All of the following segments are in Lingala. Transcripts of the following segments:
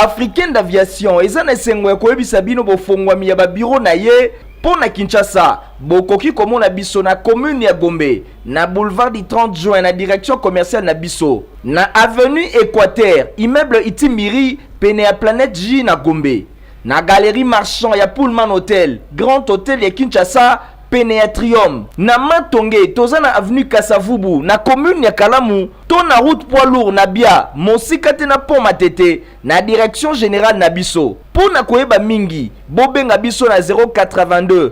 africaine d'aviation eza na esengo ya koyebisa bino bofongwami ya babiro na ye mpo na kinshasa bokoki komona biso na commune ya gombe na boulevard du 30 juin na direction commerciale na biso na avenue équateur immeuble itimbiri pene ya planète j na gombe Na Galerie Marchand ya Pullman Hotel, Grand Hotel ya Kinshasa, pene ya Trium. Na Matonge, toza na avenue Kasa-Vubu, na commune ya Kalamu, to na route poids lourd na Bia, mosika te na pont Matete, na direction generale na biso. Mpo na koyeba mingi, bobenga biso na 082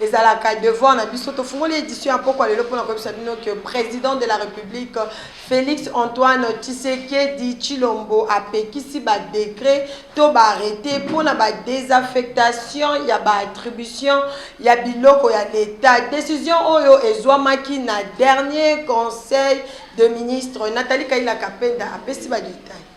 Ezalaka devoir na biso tofungoli edition ya mpokwa lelo mpo na koyebisa bino que president de la republique Felix Antoine Tshisekedi Tshilombo apekisi ba decret to ba arrete mpo na ba desaffectation ya ba attribution ya biloko ya leta. Decision oyo ezwamaki na dernier conseil de ministre. Nathalie Kayila Kapenda apesi ba details.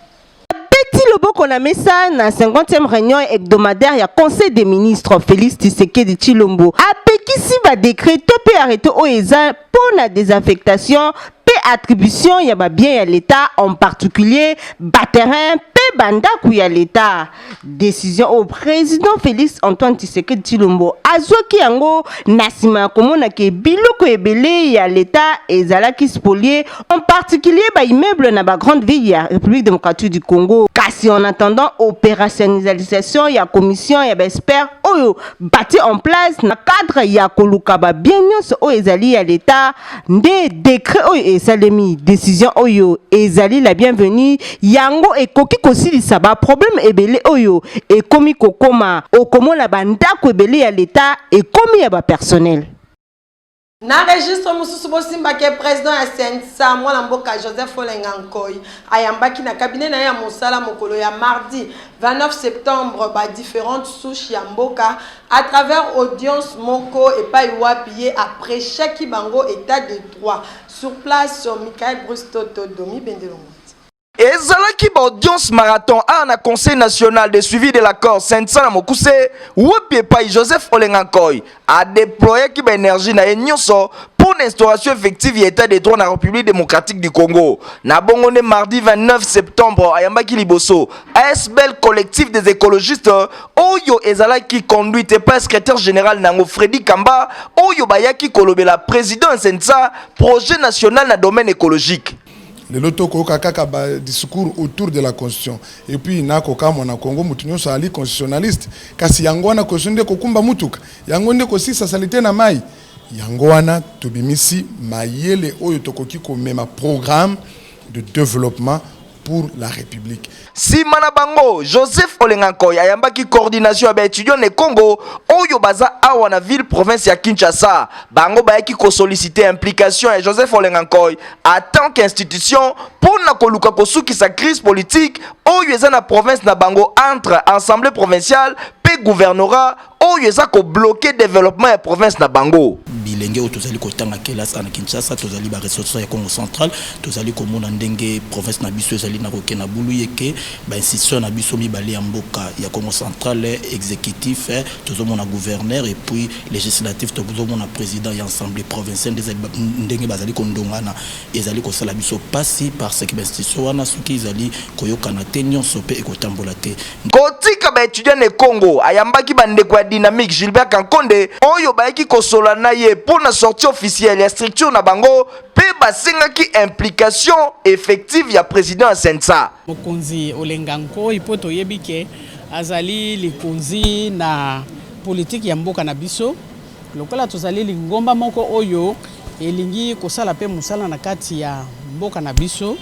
abeti loboko na mesa na 50e réunion hebdomadaire ya conseil des ministres félix tshisekedi tshilombo apekisi badekret to mpe arrete oyo eza mpo na désaffectation mpe attribution ya babien ya leta en particulier baterrain mpe bandako ya leta decision au président félix antoine tshisekedi tshilombo azwaki yango na nsima ya komona ke biloko ebele ya leta ezalaki spolie en particulier baimmeuble na bagrande ville ya république démocratique du congo kasi en attendant opérationnalisation ya commission ya baexpert oyo bati en place na cadre ya koluka babien nyonso oyo ezali ya leta nde dekret oyo esalemi decision oyo ezali la bienvenue yango ekoki kosilisa baprobleme ebele oyo ekomi kokoma okomona bandako ebele ya leta ekomi ya bapersonele Na registre mosusu bosimba ke president ya CNSA mwana mboka Joseph Olenga Nkoy ayambaki na cabinet na ye ya mosala mokolo ya mardi 29 septembre ba differentes souches ya mboka à travers audience moko epai wapi ye a prechaki bango etat de droit sur place Michael Bruce Toto Domi Bendelongo ezalaki ba audience marathon awa na conseil national de suivi de l'accord sensa na mokuse wapi epai joseph olenga nkoi adeployaki baenergie na ye nyonso mpo na instauration effective ya état de droit na république démocratique du congo na bongo nde mardi 29 septembre ayambaki liboso asbl collectif des écologistes oyo ezalaki conduite epai ya secrétaire général na yango Freddy Kamba oyo bayaki kolobela président ya CNSA projet national na domaine écologique. lelo tokoyoka kaka ba discours autour de la constitution et puis nakokamwa na congo moto nyonso azali constitutionnaliste kasi yango wana constitution nde kokumba motuka yango nde kosisa salite na mai yango wana tobimisi mayele oyo tokoki komema programme de développement pour la République. nsima na bango joseph olenga nkoy ayambaki coordination ya baetudiant ne congo oyo baza awa na ville province ya kinshasa bango bayaki kosolicite implication ya joseph olenga nkoy a tant qu'institution mpo na koluka kosukisa crise politique oyo eza na province na bango entre assemblée provinciale mpe gouvernorat oyo eza kobloke development ya province na bango bilenge oyo tozali kotanga kelasi ana kinshasa tozali baressource ya congo central tozali komona ndenge province na biso ezali na koke na bulu yeke bainstitution na biso mibale ya mboka ya congo central exécutif tozomona gouverneur et puis législatif tozomona président ya assemblée provinciale ndenge bazali kondongana ezali kosala biso mpasi parce que bainstitution wana soki ezali koyokana te nyonso mpe ekotambola te Kotika ba etudiants ne Congo, ayambaki ba ndeko ya Dynamique Gilbert Kankonde oyo bayaki kosola na ye mpo na sortie officielle ya structure na bango mpe basengaki implication effective ya president ya Cenca. Mokonzi Olenga Nkoy mpo toyebi ke azali likonzi na politiki ya mboka na biso. Lokola tozali lingomba moko oyo elingi kosala mpe mosala na kati ya mboka na biso,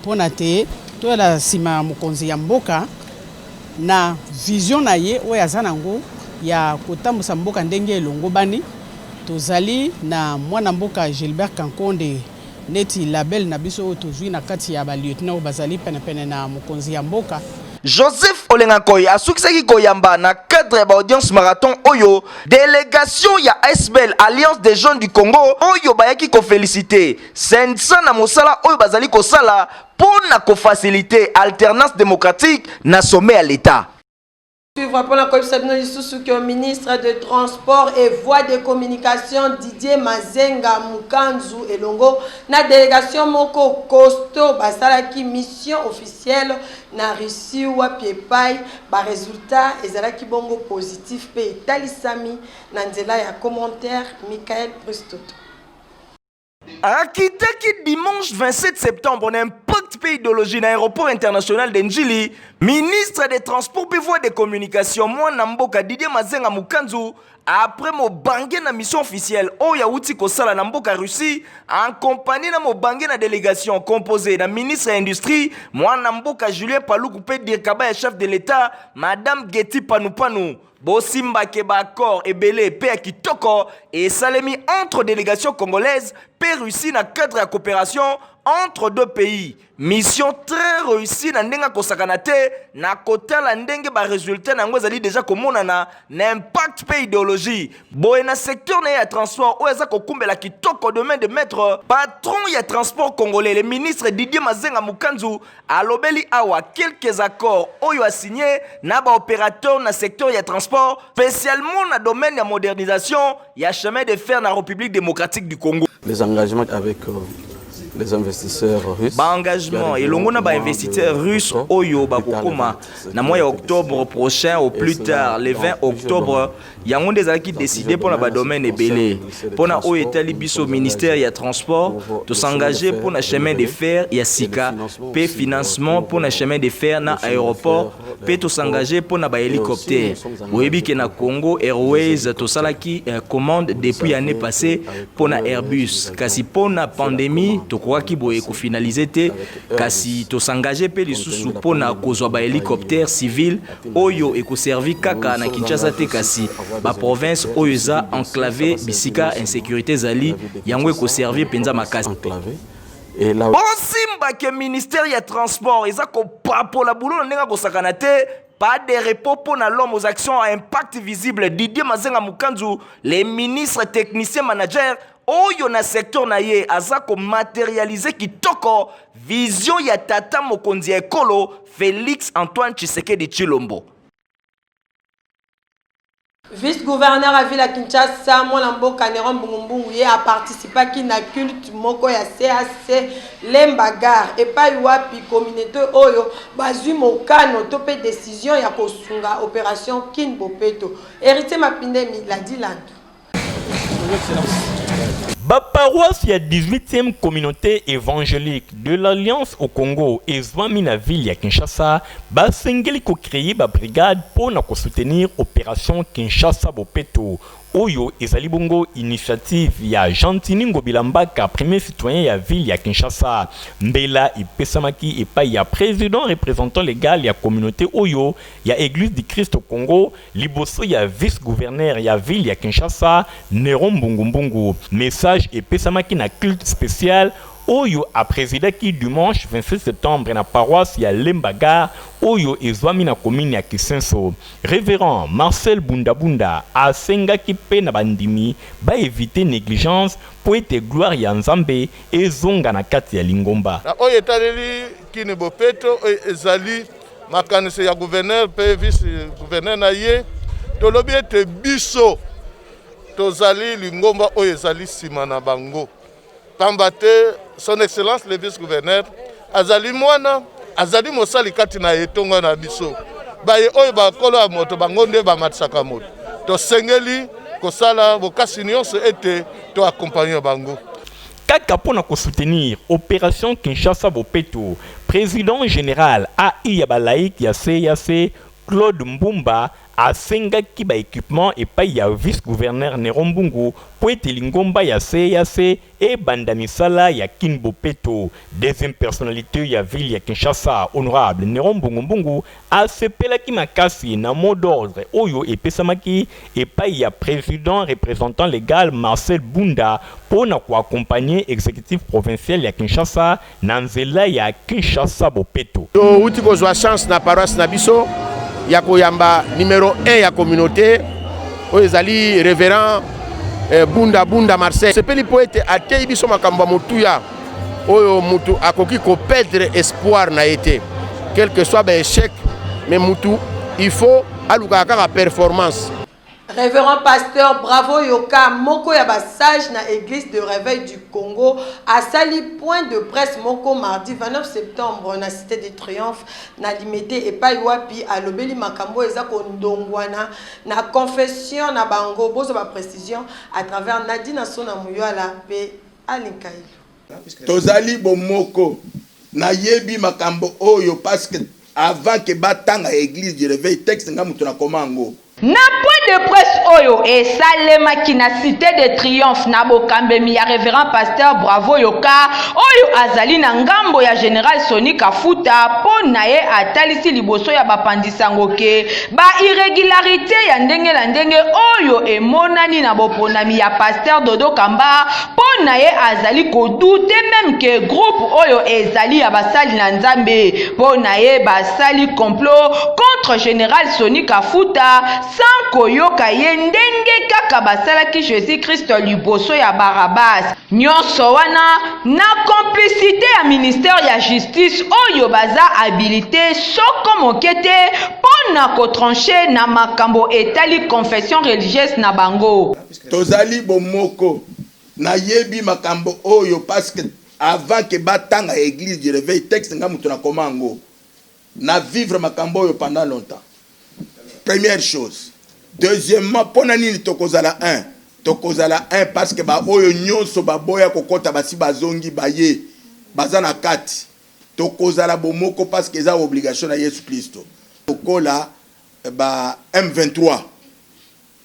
Pona te toyela sima ya mokonzi ya mboka na vision na ye oyo aza na ngo ya kotambusa mboka ndenge elongobani. Tozali na mwana mboka Gilbert Kankonde neti label na biso oyo tozui na kati ya ba lieutenant oyo bazali pene pene na mokonzi ya mboka. Joseph Olengakoy asukisaki koyamba na cadre ya ba audiences marathon oyo delegation ya asbl, Alliance des jeunes du Congo, oyo bayaki ko feliciter. Sensa na mosala oyo bazali kosala mpo na kofasilite alternance democratique na sommet ya leta. Suivre mpo na koyebisa bino lisusu que ministre de transport et voies de communication Didier Mazenga Mukanzu elongo na delegation moko costaud basalaki mission officielle na Russie wapi epai ba resultats ezalaki bongo positif mpe etalisami na nzela ya commentaire Michael Bristoto. akitaki dimanche 27 septembre na impact mpe idéologie na aéroport international de njili ministre des transports mpe voie de communication mwana mboka didier mazenga mokanzu après mobange na mission officielle oyo awuti kosala na mboka russie en compagnie na mobange na délégation composée na ministre ya industrie mwana mboka julien paluku mpe dirkaba ya chef de l'état madame geti panupanu Bosimba ke ba accords ebele pe ya kitoko esalemi entre delegation congolaise pe Russie na cadre ya coopération entre deux pays mission très réussie na ndenge akosakana te na kotala ndenge baresultat na yango ezali deja komonana na impact mpe ideologie boye na secteur na ye ya transport oyo aza kokumbela kitoko domaine de maître patron ya transport congolais le ministre didier mazenga mokanzu Alobeli awa quelques accords oyo a signé na ba opérateurs na secteur ya transport, spécialement na domaine ya modernisation ya chemin de fer na République démocratique du Congo. Les engagements avec euh, les investisseurs russes. Ba engagements elongo na ba investisseurs russes oyo bakokoma na mois ya octobre prochain au plus tard le 20 octobre Yango nde ezalaki decide mpo na badomaine ebele. Mpo na oyo etali biso ministère ya transport, tosengage mpo na chemin de fer ya sika mpe financement mpo na chemin de fer na aeroport mpe tosengage mpo na bahelicoptère. Boyebi ke na Congo Airways tosalaki eh, commande depuis année passée mpo na Airbus, kasi mpo na pandemie tokokaki boye kofinalize te, kasi tosengage mpe lisusu mpo na kozwa bahelicoptère civil oyo ekoservi kaka na kinshasa te kasi baprovince oyo eza enclave bisika insecurité ezali yango ekoservi mpenza makasi bosimba ke ministère ya transport eza kopapola bulo na ndenge akosakana te pas de repos pour l'homme aux actions à impact visible. Didier Mazenga Mukanzu, les ministres, techniciens, managers oyo na secteur na ye aza ko materialiser kitoko vision ya tata mokonzi ya ekolo Felix Antoine Tshisekedi Tshilombo. Vice-gouverneur ya ville ya Kinshasa, mwana mboka Neron Mbungumbungu ye a participaki na culte moko ya CAC Lemba Gare epai wapi communauté oyo bazwi mokano to mpe decision ya kosunga operation Kin Bopeto. Heritier Mapindemi, Ladi Landu. Baparoisse ya 18e communauté evangelique de l'Alliance au Congo ezwami na ville ya Kinshasa basengeli ko créer ba brigade mpo na ko soutenir operation Kinshasa Bopeto oyo ezali bongo initiative ya Gentini Ngobila Mbaka premier citoyen ya ville ya Kinshasa mbela epesamaki epai ya président représentant legal ya communauté oyo ya Église du Christ au Congo Liboso ya vice-gouverneur ya ville ya Kinshasa, Neron Mbungu Mbungu, message epesamaki na culte special oyo a presidaki dimanche 26 septembre na paroisse ya Lemba Gare oyo ezwami na commune ya Kisenso. Reverend Marcel Bunda Bunda asengaki mpe na bandimi ba eviter negligence mpo ete gloire ya Nzambe ezonga na kati ya lingomba. Na oyo etaleli Kin Bopeto oyo ezali makanisi ya gouverneur mpe vice gouverneur na ye tolobi ete biso tozali lingomba oyo ezali nsima na bango mpamba te son excellence le vice gouverneur azali mwana azali mosali kati na etonga na biso baye oyo bakolo ya moto bango nde bamatisaka moto tosengeli kosala bokasi nyonso ete toakompagne bango Kaka mpo na ko soutenir operation Kinshasa Bopeto, president general AI ya ba laïcs ya CEAC, Claude Mbumba, asengaki ba equipements epayi ya vice-gouverneur Neron Mbungu mpo ete lingomba ya CEAC ebanda misala ya Kin Bopeto. Deuxième personnalite ya ville ya Kinshasa, honorable Neron Mbungu Mbungu, Asepelaki makasi na mot d'ordre oyo epesamaki epayi ya president representant legal Marcel Bunda mpo na ko accompagner executif provincial ya Kinshasa na nzela ya Kinshasa-Bopeto. Towuti kozwa chance na paroisse na biso ya koyamba numero un ya communaute oyo ezali Reverend Bunda Bunda Marcel. Tosepeli mpo ete ateyi biso makambo ya motuya. oyo mutu akoki ko perdre espoir na ye te quelque soit ba échec mais mutu il faut alukaka kaka performance Révérend pasteur bravo yoka moko ya basage na église de réveil du Congo asali point de presse moko mardi 29 septembre na cité de triomphe na limete epai wapi alobeli makambo eza kondongwana na confession na bango bozwa ba précision à travers Nadine Asona Muyala mpe Anne Nkaylu. Tozali bomoko. Nayebi makambo oyo parce que avant que batanga eglise du reveil texte nga mutu na koma yango. Na point de presse oyo esalemaki na cite de triomphe na bokambemi ya Reverend Pasteur Bravo Yoka oyo azali na ngambo ya General Sony Kafuta mpo naye atalisi liboso ya bapanzi sango ke Ba irregularites ya ndenge na ndenge oyo emonani na boponami ya Pasteur Dodo Kamba mpo na ye azali ko douter meme que groupe oyo ezali ya basali na Nzambe mpo na ye basali complot contre General Sony Kafuta sans koyoka ye ndenge kaka basalaki Jesus-Christ liboso ya Barabas. Nionso wana Na complicite ya ministère ya justice oyo baza habilite soko moke te mpo na ko trancher na makambo etali confession religieuse na bango. Tozali bomoko. Nayebi makambo oyo parce que avant que batanga ya eglise du reveil texte nga mutu nakoma yango. Na vivre makambo oyo pendant longtemps première chose deuxièmement pona nini tokozala un tokozala un parce que ba oyo nionso ba boya kokota basi bazongi baye baza na kati tokozala bomoko parce que eza obligation na yesu klisto lokola ba M23.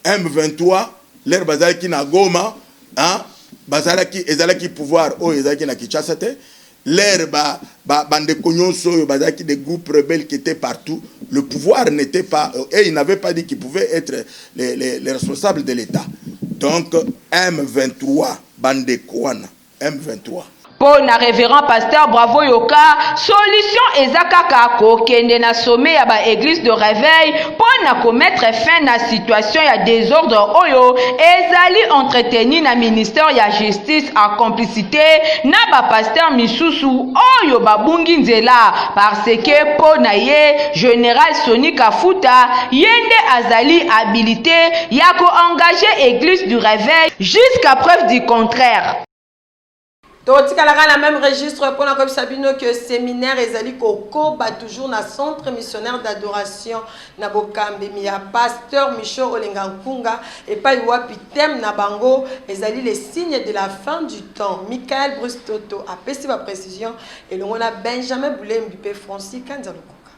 M23 lere bazalaki na Goma hein, bazalaki ezalaki pouvoir oyo ezalaki na Kinshasa te lere ba, ba, bandeko nyonso oyo bazalaki des groupes rebelles qui étaient partout le pouvoir n'était pas euh, et il n'avait pas dit qu'il pouvait être les, les, les responsables de l'État donc M23 bandeko wana M23. Po na reverend pasteur bravo yoka solution eza kaka ko kende na sommet ya ba eglise de reveil po na ko mettre fin na situation ya desordre oyo ezali entretenu na ministère ya justice en complicite na ba pasteur misusu oyo ba bungi nzela par ce que po na ye general Sony Kafuta ye nde azali habilite ya ko engage eglise du reveil Jusqu'à preuve du contraire. Totikalaka na meme registre pona koyebisa bino que seminaire ezali kokoba toujours na centre missionnaire d'adoration na bokambemi ya pasteur Michaud Olenga Nkunga epai wapi thème na bango ezali les signes de la fin du temps. Michael Bruce Toto apesi ba precisions elongo na Benjamin Bulembi mpe Francis Kanza Lukuka.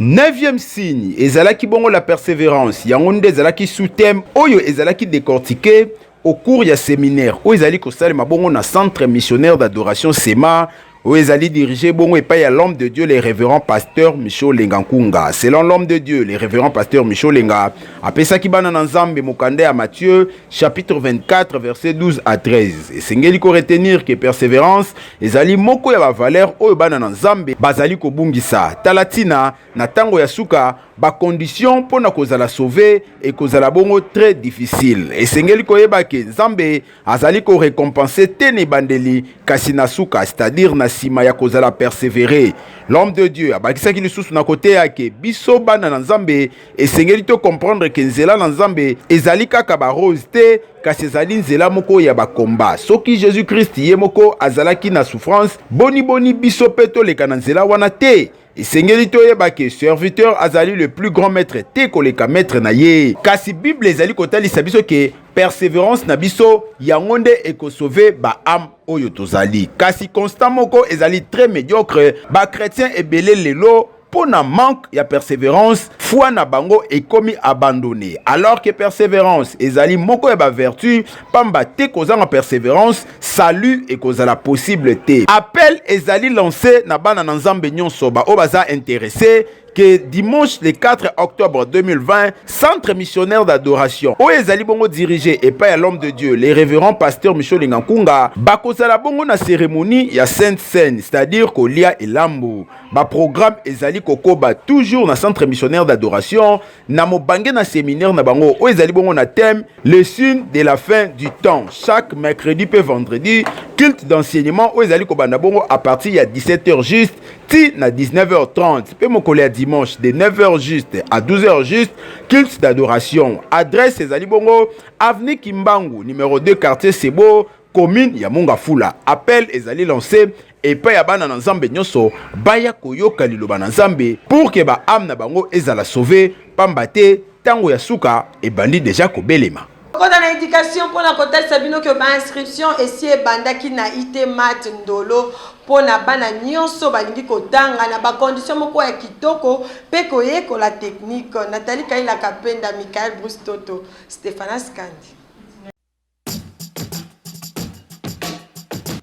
Neuvième signe ezalaki bongo la perseverance yango nde ezalaki sous-thème oyo ezalaki décortiqué au cours ya séminaire oyo ezali kosalema bongo na centre missionnaire d'adoration sema oyo ezali dirige bongo epai ya l'homme de dieu le révérend pasteur michaud lenga nkunga selon l'homme de dieu le révérend pasteur michaud lenga apesaki bana na nzambe mokanda ya mathieu chapitre 24 verset 12 à 13 esengeli koretenir ke perseverance ezali moko ya bavalere oyo bana na nzambe bazali kobungisa tala ntina na ntango ya suka bakondition mpo na kozala sauve ekozala bongo très difficile esengeli koyeba ke nzambe azali korecompense te na ebandeli kasi na suka c'est-à-dire na nsima ya kozala persevere l'homme de dieu abakisaki lisusu na koteya ke biso bana na nzambe esengeli to comprendre ke nzela na nzambe ezali kaka barose te kasi ezali nzela moko ya bakomba soki jésus krist ye moko azalaki na souffrance boniboni biso mpe toleka na nzela wana te esengeli toyeba ke serviteur azali le plus grand maître te koleka maître na ye kasi bible ezali kotalisa biso ke perseverance na biso yango nde ekosove baame oyo tozali kasi constat moko ezali très médiocre bakretien ebele lelo mpo na manque ya perseverance foi na bango ekomi abandonne alors que perseverance ezali moko ya bavertu pamba te kozanga perseverance salut ekozala possible te appel ezali lance na bana na nzambe nyonso baoyo baza interesse que dimanche le 4 octobre 2020, centre missionnaire d'adoration oyo ezali bongo dirige epai ya l'homme de Dieu le révérend pasteur Michel Lingankunga bakozala bongo na cérémonie ya Sainte Seine, c'est-à-dire kolia elambo Ba programme ezali kokoba toujours na centre missionnaire d'adoration na mobange na séminaire na bango oyo ezali bongo na thème les signes de la fin du temps chaque mercredi pe vendredi culte d'enseignement oyo ezali kobanda bongo à partir ya 17h juste ti na 19h30 pe mokolo ya dimanche de 9h juste à 12h juste culte d'adoration adresse ezali bongo avenue Kimbangu numéro 2 quartier Sebo commune ya Mongafula. Appel ezali lancé epai ya bana na Nzambe nyonso baya koyoka liloba na Nzambe pour que ba ame na bango ezala sauve pamba te tango ya suka ebandi dejà kobelema. Tokota na education mpo na kotalisa bino que ba inscriptions esi ebandaki na IT Mat Ndolo mpo na bana nyonso balingi kotanga na ba conditions moko ya kitoko mpe koyekola technique. Nathalie Kaila Kapenda, Michael Bruce Toto, Stephanas Kandi.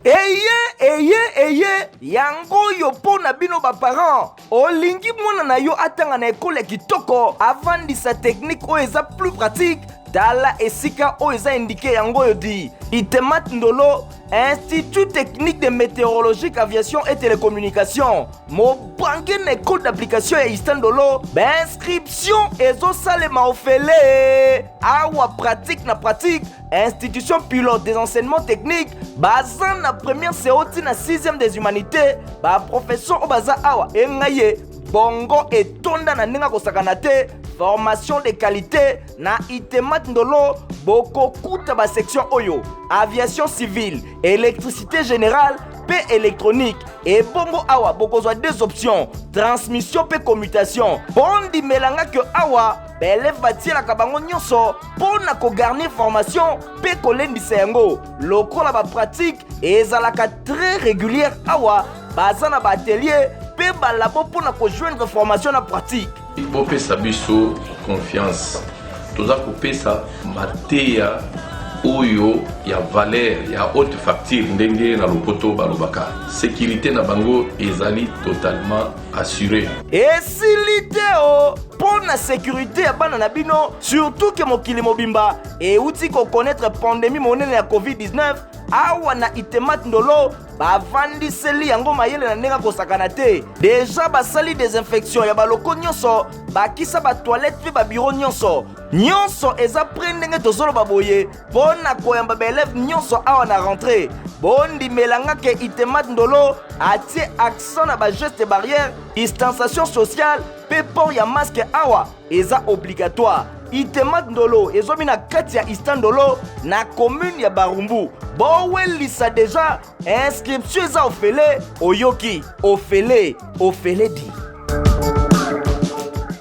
eye eye eye yango oyo mpo na bino baparent olingi mwana na yo atanga na ekolo ya kitoko avandisa teknike oyo eza plus pratique tala esika oyo eza indike yango oyo di itemat ndolo institut technique de météorologique aviation et télécommunication mobange na ekole d'application ya istandolo bainscription ezosalema ofele awa pratique na pratique institution pilote des enseignements techniques baza na première seo ti na 6e des humanités baprofesseur oyo baza awa engai ye bongo etonda na ndenge akosakana te formation de qualité na itemat ndolo bokokuta basection oyo aviation civile électricité générale mpe électronique ebongo awa bokozwa deux options transmission mpe commutation bondimelanga ke awa baeleve batielaka bango nyonso mpo na kogarnir formation mpe kolendisa yango lokola bapratike ezalaka très régulière awa baza na baatelier mpe balabo mpo na kojoindre formation na pratique bopesa biso confiance toza kopesa mateya oyo ya valeur ya haute facture ndenge na lopoto balobaka sécurité na bango ezali totalement assuré. esili te o mpo na sekurite ya bana na bino surtout ke mokili mobimba euti kokonetre pandemi monene ya covid-19 awa na itemat ndolo bavandiseli yango mayele na ndenge akosakana te deja basali desinfection ya baloko nyonso bakisa batoilette mpe babiro nyonso nyonso eza pre ndenge tozoloba boye mpo na koyamba baeleve nyonso awa na rentrée bondimela nga ke itemat ndolo atie accent na bageste barrière distanciation sociale mpe port ya maske awa eza obligatoire itemat ndolo ezwami na kati ya istandolo na commune ya barumbu bowelisa deja inscription eza ofele oyoki ofele ofele di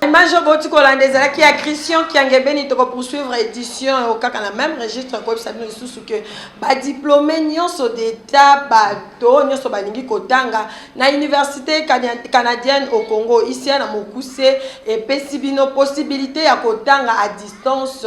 image oyo boti kolanda ezalaki ya christian kiangebeni tokopoursuivre édition oyo kaka na même registre koyebisa bino lisusu ke badiplome nyonso d'état bato nyonso balingi kotanga na université canadienne au congo isia na mokuse epesi bino possibilité ya kotanga à distance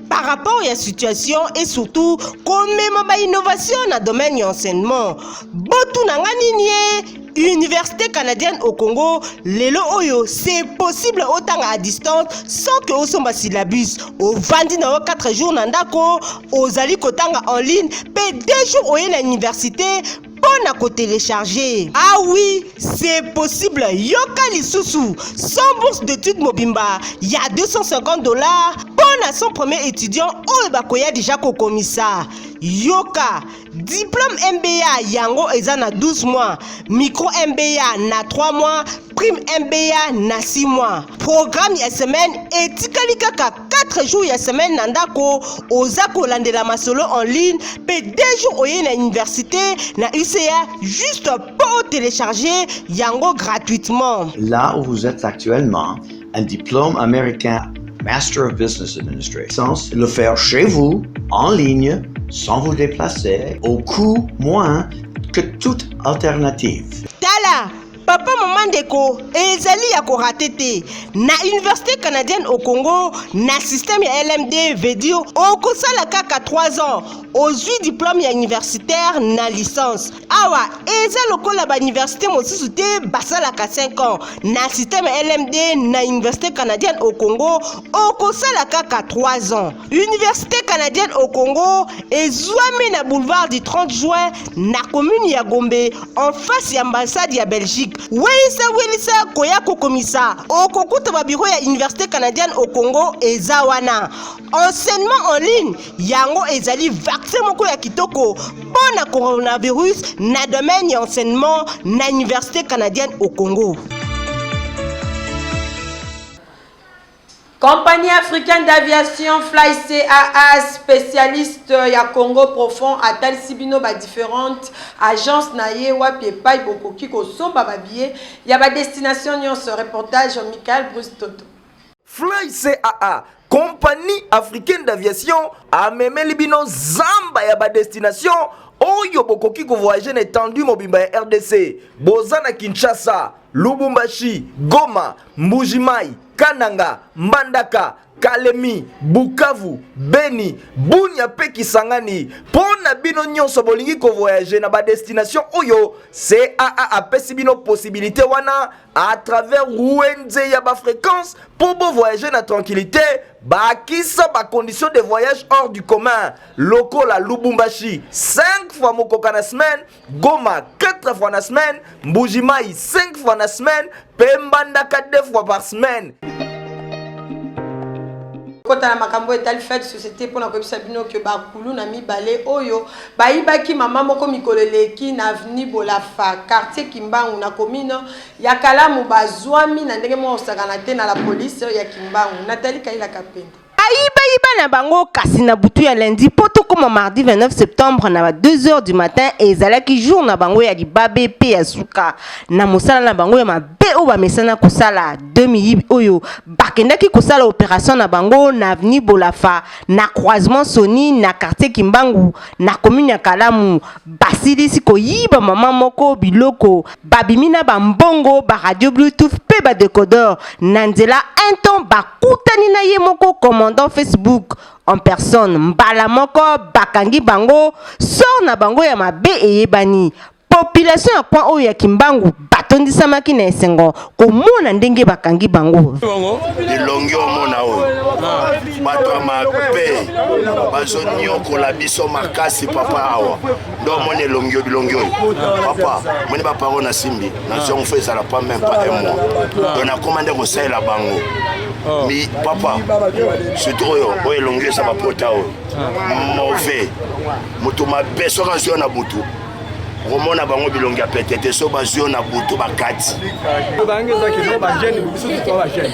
par rapport ya situation et surtout komema ba innovation na domaine ya enseignement botuna nga nini ye université canadienne au congo lelo oyo c'est possible otanga à distance sans que osomba syllabus ovandi na yo 4 jours na ndako ozali kotanga en ligne mpe 2 jours oye na université mpo na kotelecharge ah oui c'est possible yoka lisusu 100 bourse d'étude mobimba ya 250 dollars mpo na 100 premier étudiant oyo bakoya deja kokomisa yoka diplôme mba yango eza na 12 mois micro mba na 3 mois prime mba na 6 mois programme ya semaine etikali kaka 4 jours ya semaine na ndako oza kolandela masolo en ligne mpe 2 jours oye na université na uca juste mpo otelecharge yango gratuitement là où vous êtes actuellement un diplôme américain Master of Business Administration, le faire chez vous, en ligne, sans vous déplacer, au coût moins que toute alternative. Tala papa mama ndeko ezali ya korate te na université canadienne au congo na système ya lmd veut dire okosala kaka 3 ans ozwi diplôme ya universitaire na licence awa eza lokola bauniversité mosusu te basalaka 5 ans na système ya lmd na université canadienne au congo okosala kaka 3 ans Université canadienne au Congo ezwami na boulevard du 30 juin na commune ya Gombe en face ya ambassade ya Belgique. Welisa welisa koya kokomisa okokuta babiro ya Université canadienne au Congo eza wana. Enseignement en ligne yango ezali vaccin moko ya kitoko mpo na coronavirus na domaine ya enseignement na Université canadienne au Congo. Compagnie africaine d'aviation Fly CAA specialiste ya Congo profond atalisi bino ba differentes agences na ye wapi epai bokoki kosomba ba billets ya ba destinations nyonso. Reportage Michael Bruce Toto. Fly CAA compagnie africaine d'aviation amemeli bino zamba ya ba destinations oyo bokoki kovoyage na etendue mobimba ya rdc boza na kinshasa lubumbashi goma Mbujimayi, Kananga, Mbandaka, Kalemi, Bukavu, Beni, Bunia pe Kisangani. Pona bino nyonso bolingi ko voyager na ba destination oyo CAA apesi bino possibilité wana à travers Wenze ya ba fréquence po bo voyager na tranquillité bakisa ba conditions de voyage hors du commun lokola Lubumbashi 5 fois mokoka na semaine Goma 4 fois na semaine, Mbujimai 5 fois na semaine, Pembandaka 2 fois par semaine. kota na makambo etali fete société mpo na koyebisa bino ke bakulu na mibale oyo bayibaki mama moko mikolo eleki na aveni bolafa quartier kimbangu na commune ya kalamu bazwami na ndenge moko kosakana te na la police ya kimbangu natali kailaka mpenda bayiba na bango kasi na butu ya lundi mpo tokoma mardi 29 septembre na ba 2 heures du matin ezalaki jour na bango ya libabe mpe ya suka na mosala na bango ya mabe oyo bamesana kosala 2000 oyo bakendaki kosala operation na bango na avenue bolafa na croisement soni na quartier kimbangu na commune ya kalamu basilisi koyiba mama moko biloko babimi na bambongo baradio bluetooth mpe badecodeur na nzela un temps bakutani na ye moko commandant facebook en personne mbala moko bakangi bango sor na bango ya mabe eyebani population ya coin oyo ya kimbangu batondisamaki na esengo komona ndenge bakangi bango elongi omona oyo bato ya mabe bazoniokola biso makasi papa awa ndo omoni elongi yo bilongi oyo papa moni baparo na simbi na zongo fo ezala pa meme pa un mois don nakoma nde kosalela bango oh. mi papa surtout oyo oyo elongi eza bapota oyo ah. mauvais moto mabe soki azwi yo na butu komona bango bilongi ya pete te so bazwi yo na butu bakati bango ezaki no bagene biso totwa bagene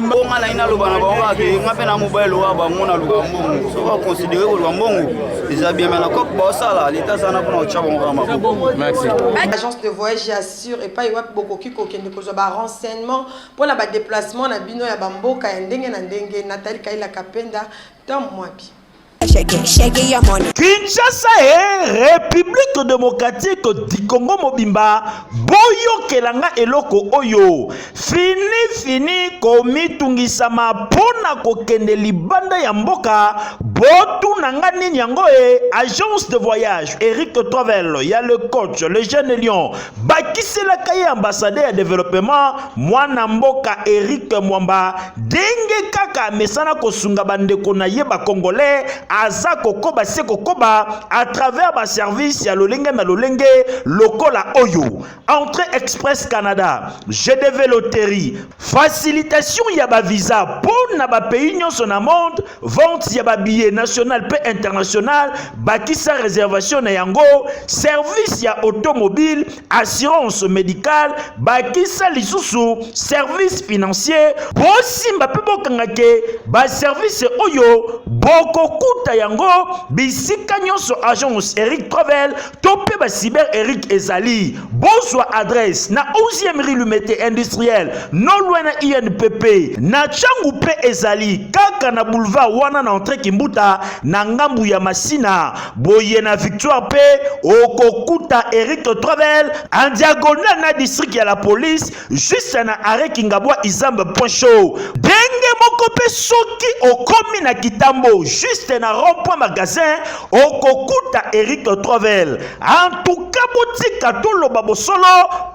bonga na ye naloba na bango ake nga mpe na mobali lowa bango na luka mbongo soki baconsidere koluka mbongo eza bien me na cope baosala leta aza na mpona kotya bango kaka maboko agence de voyage ya sur epai wapi bokoki kokende kozwa barenseignement mpo na badeplacement na bino ya bamboka ya ndenge na ndenge natali kailaka mpenda ntango mwabi kinshasa e republique démocratique du congo mobimba boyokela nga eloko oyo fini fini komitungisama mpo na kokende libanda ya mboka botuna nga nini yango e agence de voyage eric travel ya le coach le jeune lion bakiselaka ye ambasade ya developema mwana mboka Eric Mwamba denge kaka amesana kosunga bandeko na ye bakongole aza kokoba se kokoba à travers baservice ya lolenge na lolenge lokola oyo entrée express Canada GDV loterie Facilitation ya ba visa mpo na ba pays nyonso na monde, vente ya ba billets national mpe international, bakisa reservation na yango, service ya automobile, assurance medicale, bakisa lisusu service financier. Bosimba mpe bokanga ke ba service oyo bokokuta yango bisika nyonso agence Eric Travel to mpe ba cyber eric ezali bozwa adresse na 11e rue lumete industriel non loin na inpp na changu mpe ezali kaka na boulevard wana na entre kimbuta na ngambu ya masina boye na victoire mpe okokuta eric travel en diagonal na district ya la police Juste na arrêt Kingabwa Izamba point show. Denge moko pe soki okomi na Kitambo juste na rond point magasin okokuta Eric Travel. En tout cas botika toloba bosolo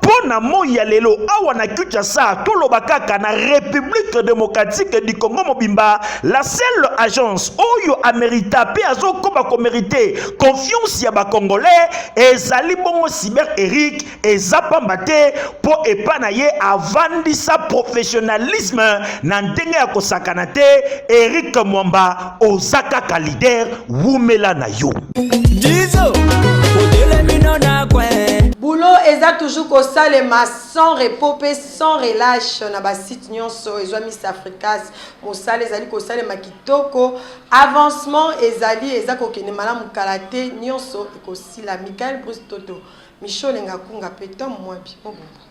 mpo na moi ya lelo awa na Kinshasa toloba kaka na République démocratique du Congo mobimba la seule agence oyo amerita mpe azokoba komerite confiance ya bacongolais ezali bongo cyber eric eza pamba te mpo epa na ye avandisa professionnalisme na ndenge ya kosakana te erik mwamba oza kaka lider wumela na yo Dizo, boulot eza toujours kosalema sans repos mpe sans relâche na basite nyonso ezwa miss africas mosala ezali kosalema kitoko avancement ezali eza kokende malamu kala te nyonso ekosila michael bruce toto Mishole nga kunga pe Tom Mwabi mobumba.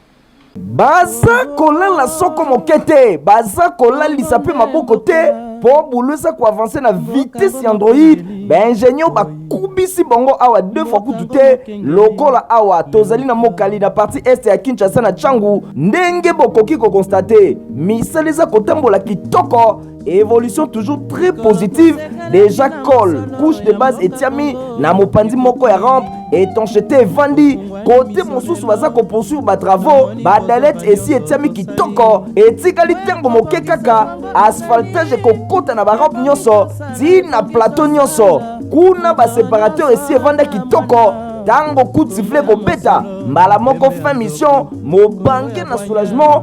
Baza kolala soko moke te, baza kolalisa pe maboko te po boulot eza ko avancer na vitesse ya android. Ba ingenieur ba kubisi bango awa deux fois kutu te lokola awa tozali na Mokali na partie est ya Kinshasa na Tshangu ndenge bokoki ko constater misala eza kotambola kitoko evolution toujours très positive déjà col couche de base etiami na mopanzi moko ya rampe étanchété evandi kote mosusu baza kopoursuivre batravaux badalete esi etiami kitoko etikali ntango moke kaka asphaltage ekokota na barampe nyonso ti na plateau nyonso kuna baseparateur esi evanda kitoko ntango coup de sifflet ekobeta mbala moko fin mission mobange na soulagement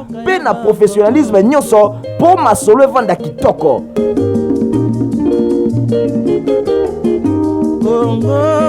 mpe na professionnalisme nyonso mpo masolo evanda kitoko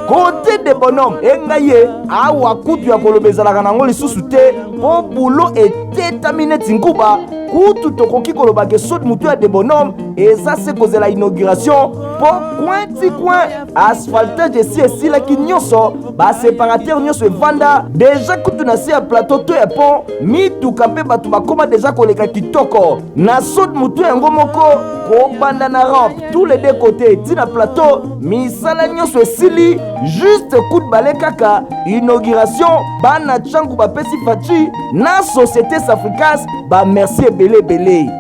kote de bonhomme engai ye awa kutu ya koloba ezalaka nango lisusu te mpo bulo etetami neti nkuba kutu tokoki koloba ke sodi motu ya de bonhomme eza se kozela inauguration mpo coin ti coin asphaltage esi esilaki nyonso baseparateur nyonso evanda deja kutu na se ya plateau to ya pont mituka mpe bato bakoma deja koleka kitoko na sud motu yango moko kobanda na rampe tous les deux côtés ti na plateau misala nyonso esili juste coup de bale kaka inauguration bana changu bapesi faci na société safricas bamerci ebele ebele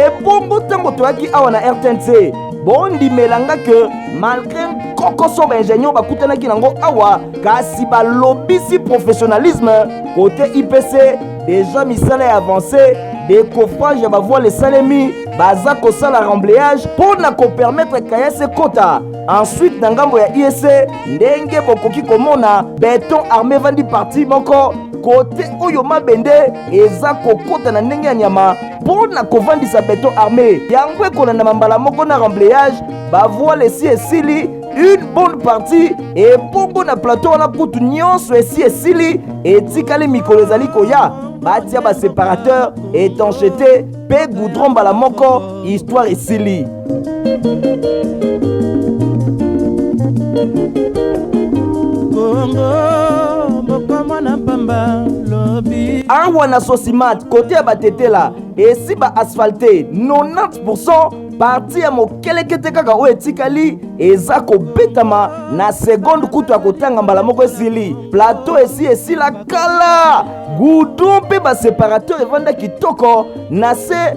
ebongo ntango toyaki awa na rtnc bondimela nga ke malgre nkokoso baingenieur bakutanaki nango awa kasi balobisi professionnalisme kote ipc deja misala ya avance decoffrage ya bavoile esalemi baza kosala remblayage mpo na kopermetre kayase kota ensuite na ngambo ya iese ndenge bokoki komona beton arme evandi parti moko kote oyo mabende eza kokota na ndenge ya nyama mpo na kovandisa beton arme yango ekolandama mbala moko na remblayage bavoile esi esili une bonne partie ebongo na plateau wana kutu nyonso esi esili etikali mikolo ezali koya batia baseparateur étanchété mpe goudron mbala moko histoire esili awa na sosimat kote ya batetela esi ba asphalte 90 parti ya mokelekete kaka oyo etikali eza kobetama na segonde kutu ya kotanga mbala moko esili plateau esi esila kala gudon mpe baseparateur evanda kitoko na se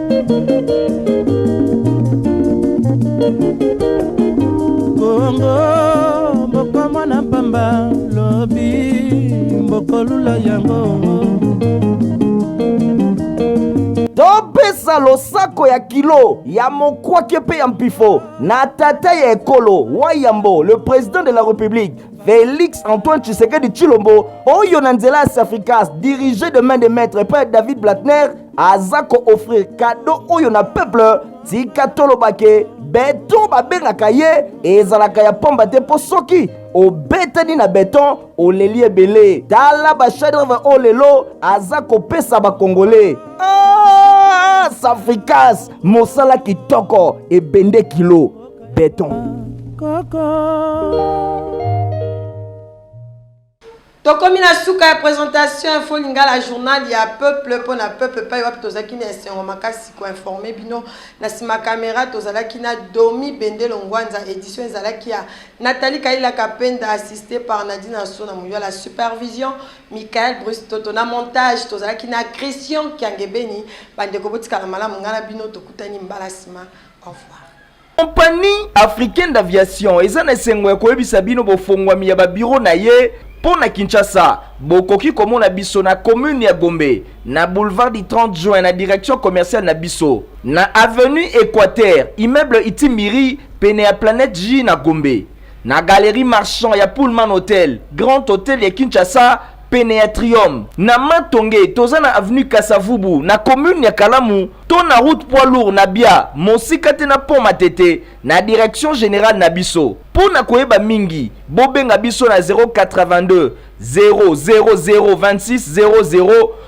Kongo mboko mwana mpamba lobi mbokolula yango topesa losako ya kilo ya mokwake mpe ya mpifo na tata ya ekolo wa yambo le président de la république Félix Antoine Tshisekedi Chilombo, Oyo Nanzela Africas, dirigé de main de maître par David Blatner, aza ko offrir cadeau oyo na peuple tika toloba ke beton babengaka ye ezalaka ya pamba te mpo soki obetani na beton oleli ebele tala bashadreve oyo lelo aza kopesa bakongole ah, safrikas mosala kitoko ebende kilo beton Coco. Tokomi na suka ya presentation info lingala journal ya peuple mpo na peuple epai wapi tozalaki na esengo makasi koinforme bino na nsima kamera tozalaki na domi bendelo ngwanza edition ezalaki ya natali kailaka penda assiste par nadine anso na moyo la supervision michael bruce toto na montage tozalaki na christian kiangebeni bandeko botikala malamu ngai na bino tokutani mbala nsima au revoir Compagnie africaine d'aviation eza na esengo ya koyebisa bino bofongwami ya babiro na ye mpo na Kinshasa. Bokoki komona biso na commune ya Gombe, na boulevard du 30 juin na direction commerciale na biso, na avenue Equateur, immeuble Itimiri, pene ya Planète J na Gombe, na galerie Marchand ya Pullman Hotel, Grand Hotel ya Kinshasa, pene ya Triome, na Matonge, toza na avenue Kasavubu, na commune ya Kalamu, to na route poids lourd na Bia, mosika te na pont Matete, na direction generale na biso. Mpo na koyeba mingi, bobenga biso na 082 000 26 00